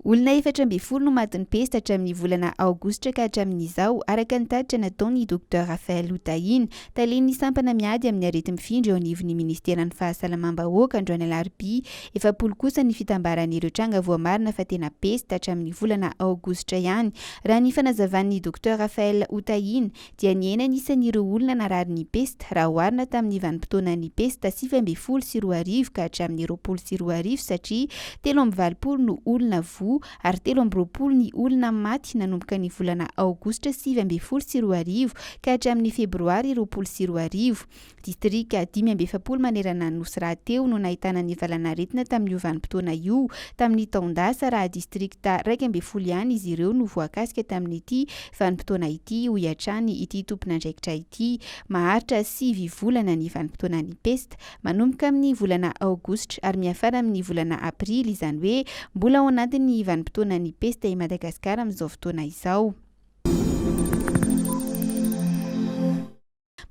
Olona efatra ambin'ny folo no matin'ny pesta hatramin'ny volana aogositra ka hatramin'izao, araka ny tatitra nataon'ny Docteur Raphaël Hotahina, talen'ny sampana miady amin'ny areti-mifindra eo anivon'ny Ministeran'ny Fahasalamam-bahoaka, androany alarobia. Efapolo kosa ny fitambaran'ireo tranga voamarina fa tena pesta hatramin'ny volana aogositra ihany, raha ny fanazavan'ny Docteur Raphaël Hotahina. dia nihena ny isan'ireo olona nararin'ny pesta raha oharina tamin'ny vanim-potoanan'ny pesta sivy ambin'ny folo sy roa arivo ka hatramin'ny roapolo sy roa arivo satria telo amby valopolo no olona voa ary telo amby roapolo ny olona maty nanomboka ny volana aogositra sivy ambin'ny folo sy roa arivo ka hatramin'ny febroary roapolo sy roa arivo. Distrika dimy amby efapolo manerana ny Nosy rahateo no nahitana ny valan'aretina tamin'io vanim-potoana io. Tamin'ny taon-dasa, raha distrikta iraika ambin'ny folo ihany izy ireo no voakasika tamin'ity vanim-potoana ity, hoy hatrany ity tompon'andraikitra ity. Maharitra sivy volana ny vanim-potoanan'ny pesta, manomboka amin'ny volana aogositra ary miafara amin'ny volana aprily, izany hoe mbola ao anatin'ny vanim-potoanan'ny pesta i Madagasikara amin'izao fotoana izao.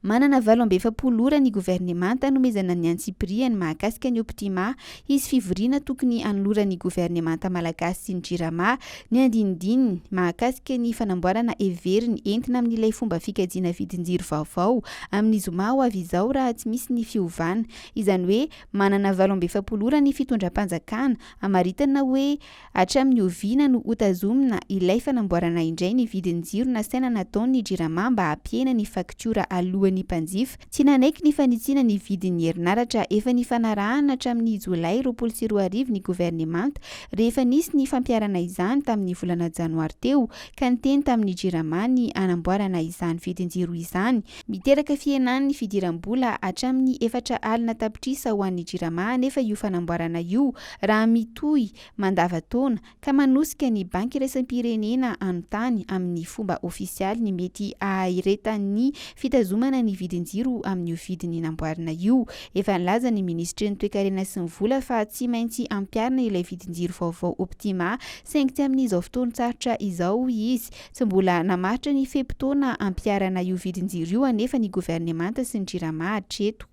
Manana valo amby efapolo ora ny governemanta hanomezana ny antsipirihany mahakasika ny Optima. Hisy fivoriana tokony hanoloran'ny governemanta malagasy sy ny Jirama ny andinindininy mahakasika ny fanamboarana heveriny entina amin'ilay fomba fikajiana vidin-jiro vaovao amin'ny zoma ho avy izao raha tsy misy ny fiovana. Izany hoe manana valo amby efapolo ora ny fitondram-panjakana hamaritana hoe Hatramin'ny oviana no hotazomina ilay fanamboarana indray ny vidin'ny jiro nasaina nataon' ny Jirama mba hampihena ny faktiora aloan'ny mpanjifa? Tsy nanaiky ny fanitsiana ny vidin'ny herinaratra efa nifanarahana hatramin'ny Jolay roapolo sy roa arivo ny governemanta rehefa nisy ny fampiharana izany tamin'ny volana Janoary teo ka niteny tamin'ny Jirama ny hanamboarana izany vidin-jiro izany miteraka fihenan'ny fidiram-bola hatramin'ny efatra alina tapitrisa ho an'ny Jirama anefa io fanamboarana io Raha mitohy mandavan-taona ka manosika ny Banky Iraisam-pirenena hanontany amin'ny fomba ofisialy ny mety haharetan'ny fitazomana ny vidin-jiro amin'io vidiny namboarina io, efa nilaza ny Minisitry ny Toekarena sy ny Vola fa tsy maintsy ampiharina ilay vidin-jiro vaovao Optima saingy tsy amin'izao fotoan-tsarotra izao izy. Tsy mbola namaritra ny fe-potoana hampiharana io vidin-jiro io anefa ny governemanta sy ny Jirama hatreto.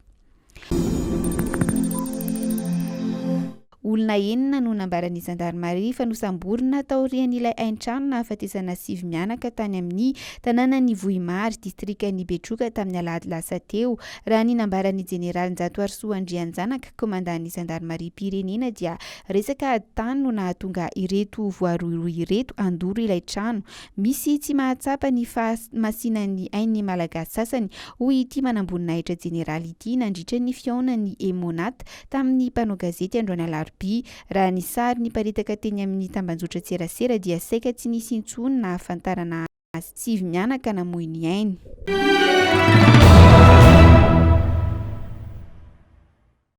Olona enina no nambaran'ny zandarimaria fa nosamborina taorian'ilay haintrano nahafatesana sivy mianaka tany amin'ny tanànan'i Vohimary, distrikan'i Betroka tamin'ny alahady lasa teo. Raha ny nambaran'ny jeneraly Njatoarisoa Andrianjanaka, komandan'ny zandarimariam-pirenena dia resaka ady tany no nahatonga ireto voarohirohy ireto handoro ilay trano. Misy tsy mahatsapa ny fahamasinan'ny ainy ny Malagasy sasany, hoy ity manamboninahitra jeneraly ity nandritra ny fihaonan'ny Emmonat tamin'ny mpanao gazety androany alarobia. Raha ny sary niparitaka teny amin'ny tambanjotran-tserasera dia saika tsy nisy intsony nahafantarana azy. Sivy mianaka namoy ny ainy.